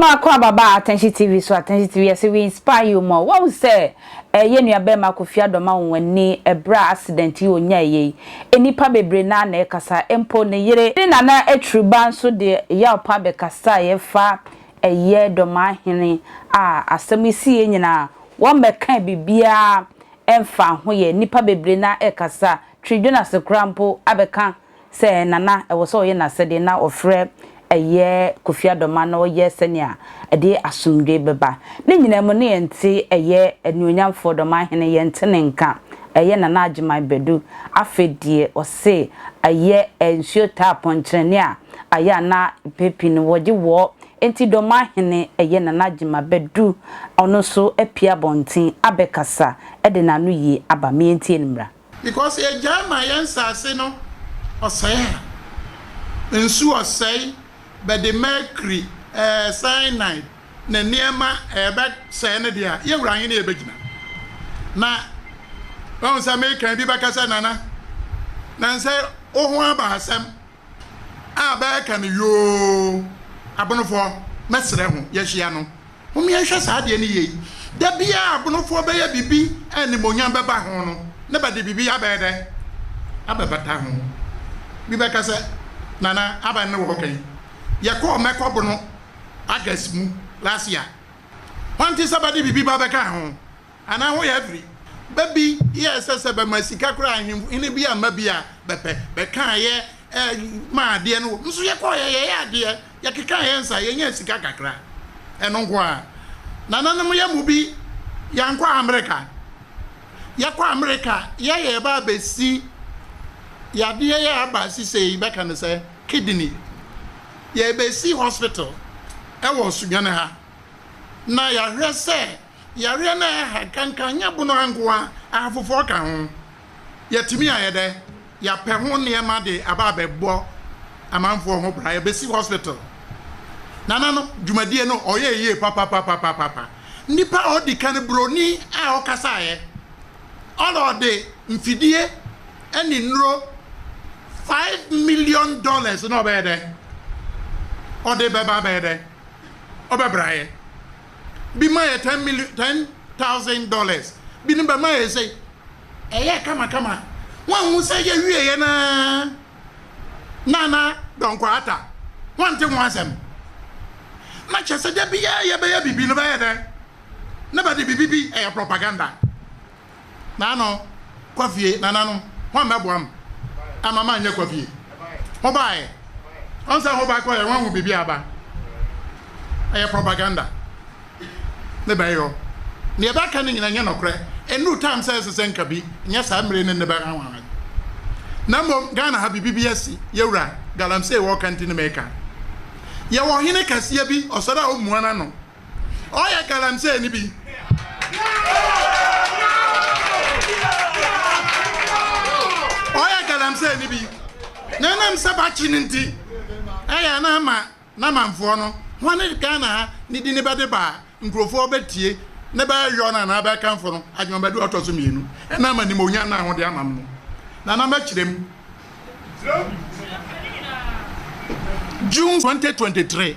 Mako ababaa Atɛnhye TV so Atɛnhye TV yɛse we inspire you more wahu sɛ eh yɛ nua bɛɛma Kofi Addo ma wo w'ani ɛberɛ a accident yi onyae yɛ yi nnipa bebree naa na ɛkasa mpo ne yere ne nana atiriba nso de yaw pa bɛkasaeɛ fa Ɛyɛ Domaa Hene a asɛm yi siiɛ nyinaa wɔmmɛkaa biribiara ɛmfa ho yɛ nnipa bebree na ɛkasa twi Jonase koraa mpo abɛka sɛ Nana ɛwɔ sɛ ɔyɛ n'asɛdeɛ na ɔfrɛ ɛyɛ Kofi Adomaa na ɔyɛ sɛnea ɛde asomdwoe bɛba ne nyinaa mu na yɛnte ɛyɛ Anuonyamfoɔ Domaa Hene yɛnte ne nka ɛyɛ Nana Agyeman Badu afei deɛ ɔse ɛyɛ nsuo taa pɔnkyerɛne a ayɛ a na mpɛn pii no wɔgye wɔ enti Dɔmahene ɛyɛ Nana Agyema bɛdu ɔno nso apue abɔnten abɛkasa de n'ano yie aba me yɛntie no mmra. Because yɛgyae ma yɛn nsase no ɔsɛe a, nsu ɔsɛe, bɛde mercury, ɛɛ cyanide ne nneɛma ɛɛ bɛsɛe no deɛ a, yɛn Wura Ahene yɛbɛgyina. Na wahu sɛ merekan bi bɛka sɛ Nana, nansɛ wo ho aba asɛm. a bɛɛka no yoo abonofoɔ mɛsrɛ ho yɛhyia no hom yɛnhwɛ saa adeɛ no yie da biaa abonofoɔ bɛyɛ biribi a animonyam bɛba ho no na bɛde biribi abɛyɛ dɛ abɛbata ho bi bɛka sɛ nana aban ne wɔɔka yi yɛkɔɔ mɛkɔ bono August mu last year hwan te sɛ bɛde biribi ba bɛka ho. Anaa ho yɛ firi. Bɛ bi yɛɛ sɛ sɛ bɛma sika koraa a, ahenfo, hene bi amma bi a, bɛpɛ. Bɛkaa yɛ eh, maa adeɛ no wɔ. Nso yɛkɔeɛ, yɛyɛɛ adeɛ, yɛkekaa yɛn nsa, yɛnyaa sika kakra. Ɛno nko ara. Nananom yɛn mu bi, yɛankɔ Amerika. Yɛkɔ Amerika, yɛyɛ yɛba a, bɛsi yadeɛ yɛ aba sisei, bɛka no sɛ kidney. Yɛbɛsi hospital wɔ Sudwane ha, na yɛahwɛ sɛ Yareɛ no a ɛha nkanka nyɛ bono ha nko ara, ɛha foforɔ ka ho. Yɛatumi ayɛ dɛ? Yɛapɛ ho nneɛma de aba abɛbɔ amanfoɔ ho bra, yɛbɛsi hospital. Nana no dwumadie no ɔyɛɛ yie papapapapapa. Nnipa a ɔdi kan buroni a ɔkasaeɛ, ɔna ɔde mfidie ne nnuro five million dollars na ɔbɛyɛ dɛ? Ɔde bɛba abɛyɛ dɛ? Ɔbɛbraeɛ. bi ma yɛ ten million ten thousand dollars bi no bɛma yɛ sɛ ɛyɛ kamakama wɔnhu sɛ yɛwie yɛ na nana dɔnkɔ ata wɔnte ho asɛm na kyɛ sɛ da biara yɛbɛyɛ biribi no bɛyɛ dɛ na bɛde biribi bi ɛyɛ propaganda Naano, kɔ fie, nananom, hwan bɛboa me ama manyɛ kɔ fie? Hobaeɛ. Ɔn sɛ hoba kɔeɛ, hoahu biribi a aba? Ɛyɛ propaganda. Ne bɛyɛ hɔ. Neɛ bɛka no nyina nyɛ nɔkorɛ. Ɛnnuru time sɛ ɛsesɛ nka bi nyɛ saa mmire ne nne bɛha ho ara. Na mmom, Ghana ha biribi bi asi, Yɛwura, Galamsey wɔka nti ne meka. Yɛwɔ Ɔhene kɛseɛ bi, ɔsɔre a ɔmmua n'ano, Ɔyɛ galamsey no bi. Ɔyɛ galamsey no bi. Na ɛnam sɛ bakye no nti, ɛyɛ na ama n'amanfoɔ no, wɔne Ghana ha ne di ne bɛde ba a, nkurɔfoɔ bɛtie ne bɛyɔ no anaa bɛkamfo no adwumabaduru a ɔtɔ so mmienu. Ɛnam animuonyam no a wɔde ama no no. Nana mɛkyerɛ mu. June 2023.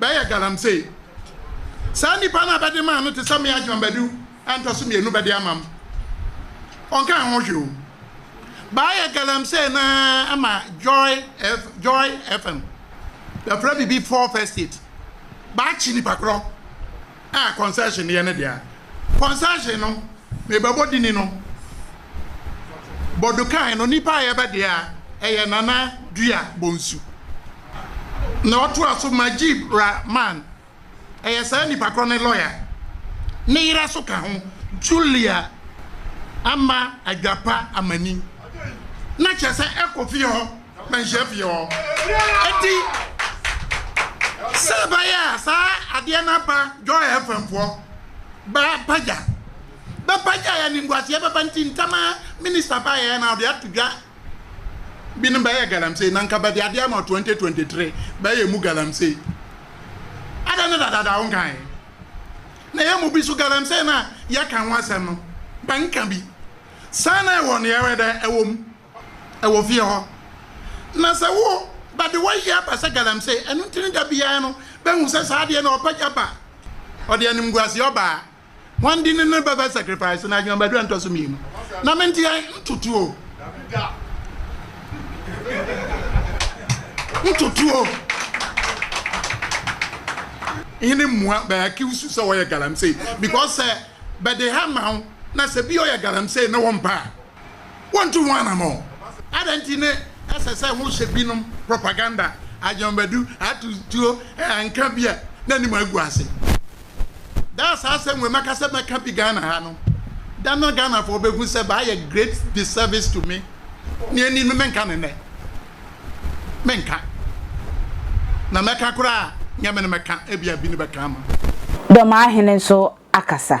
Bɛyɛ galamsey. Saa nnipa no a bɛde maa no te sɛ me Ajman Badu a ntɔ so mmienu bɛde ama m'. Ɔnkaa ho hwee o. Bɛayɛ galamsey no ara ama Joy F, Joy FM. Bɛfrɛ biribi Fourth Estate. Bɛakye nnipa korɔ. a concession yɛ ne dea concession no mebɛbɔ dini no bɔdukan no nipa a yɛbɛ dea ɛyɛ nana dua bonsu na ɔtoa so majib ra man ɛyɛ saa nipa korɔ ne lɔya ne yerɛ so ka ho julia ama adwapa amani na kyɛ sɛ ɛkɔ fie hɔ. Mɛnhyɛ fie hɔ. Eti sɛ ɛbɛyɛ a saa adeɛ no aba Joy FM foɔ bɛpagya bɛpagya yɛ animguaseɛ bɛba nti ntɛm ara minister baeɛ na ɔde ato dwa bi no bɛyɛ galamsey na nka bɛde adeɛ ama 2023 bɛyɛ mu galamsey adɛn ne dadaada wo nkae na yɛ mu bi so galamsey no a yɛka ho asɛm no bɛnka bi saa na ɛwɔ no yɛwɛ dɛ ɛwɔ mu wɔ fie hɔ, na sɛ wo ba de wayi aba sɛ galamsey, ɛno nti ne da biara no bɛhu sɛ saa adeɛ no ɔpa gya ba, ɔde animguaseɛ ɔbaa. Wɔn de no no bɛbɛ sacrifice no adwuma badua ntɔso mmienu. Na me nteɛ ntotuo. Ntotuo. Hene mmua bɛ accuse you sɛ wɔyɛ galamsey because sɛ bɛde ha ma wo na sɛ bi ɔyɛ galamsey na wɔn pa a. wontu ho anammɔn. Adɛn nti ne ɛsɛ sɛ wohyɛ binom propaganda, adwambadu, atu tuo, nka bi a n'anim agu ase? Da a saa asɛm wei mɛka sɛ mɛka bi Ghana ha no, da no Ghanafoɔ bɛhu sɛ mayɛ great disservice to me. Nea ɛnni no menka no nnɛ. Menka. Na mɛka koraa a, nyɛ me na mɛka, ebia bi na bɛka ama. Dɔm ahene nso akasa.